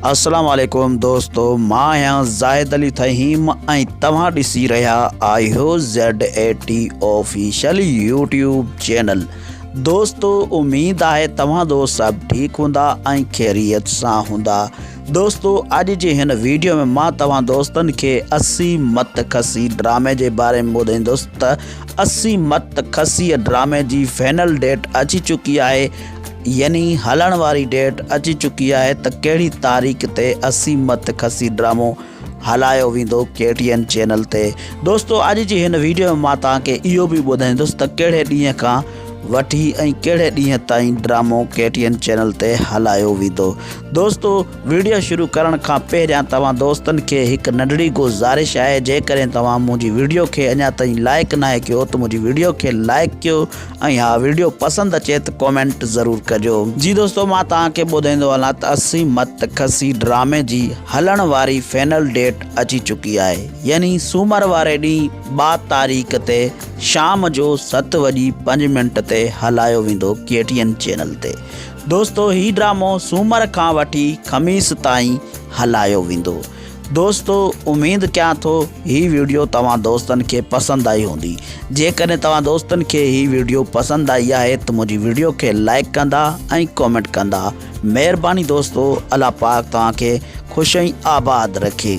السلام عليڪم دوستو مان آهيان زاهد علي ٿهيم ۽ توهان ڏسي رهيا آهيو Z A T official YouTube channel دوستو اميد آهي توهان دو سڀ ٺيڪ هوندا ۽ خيريت سان هوندا دوستو اڄ جي هن ويڊيو ۾ مان توهان دوستن کي اسي مت کسي ڊرامي جي باري ۾ ٻڌائيندس ته اسي مت کسي ڊرامي جي فائنل ڊيٽ اچي چڪي آهي يعني هلڻ واري ڊيٽ اچي چڪي آهي ته ڪهڙي تاريخ تي اسي مت کسي ڊرامو هلايو ويندو ڪي ٽي اين چينل تي دوستو اڄ جي هن ويڊيو ۾ مان توهان کي اهو به ٻڌائيندس ته ڪهڙي ڏينهن کان وٺي ۽ ڪهڙي ڏينهن تائين ڊرامو ڪي ٽي اين چينل تي هلايو ويندو دوستو ويڊيو شروع ڪرڻ کان پهريان توهان دوستن کي هڪ ننڍڙي گزارش آهي جيڪڏهن توهان منهنجي ويڊيو کي اڃا تائين لائڪ ناهي ڪيو ته منهنجي ويڊيو کي لائڪ ڪيو ۽ ها ويڊيو پسند اچي ته ڪومينٽ ضرور ڪجو. جي دوستو مان توهان کي ٻڌائيندو هلان ته اسي مت کسي ڊرامي جي هلڻ واري فينل ڊيٽ اچي چڪي آهي يعني سومر واري ڏينهن ٻا تاريخ تي شام جو ست وڄي پنج منٽ تي هلايو ويندو ڪي ٽي اين چينل تي دوستو هي ڊرامو سومر کان وٺي خميس تائين هلايو ويندو دوستو اميد ڪيان ٿو هي ويڊيو توهان دوستن کي پسند آئي هوندي جيڪڏهن توهان دوستن کي هي ويڊيو پسند آئي آهي ته منهنجي ويڊيو کي لائڪ ڪندا ۽ ڪمينٽ ڪندا مهرباني دوستو الله پاڪ توهان کي خوش ۽ آباد رکي.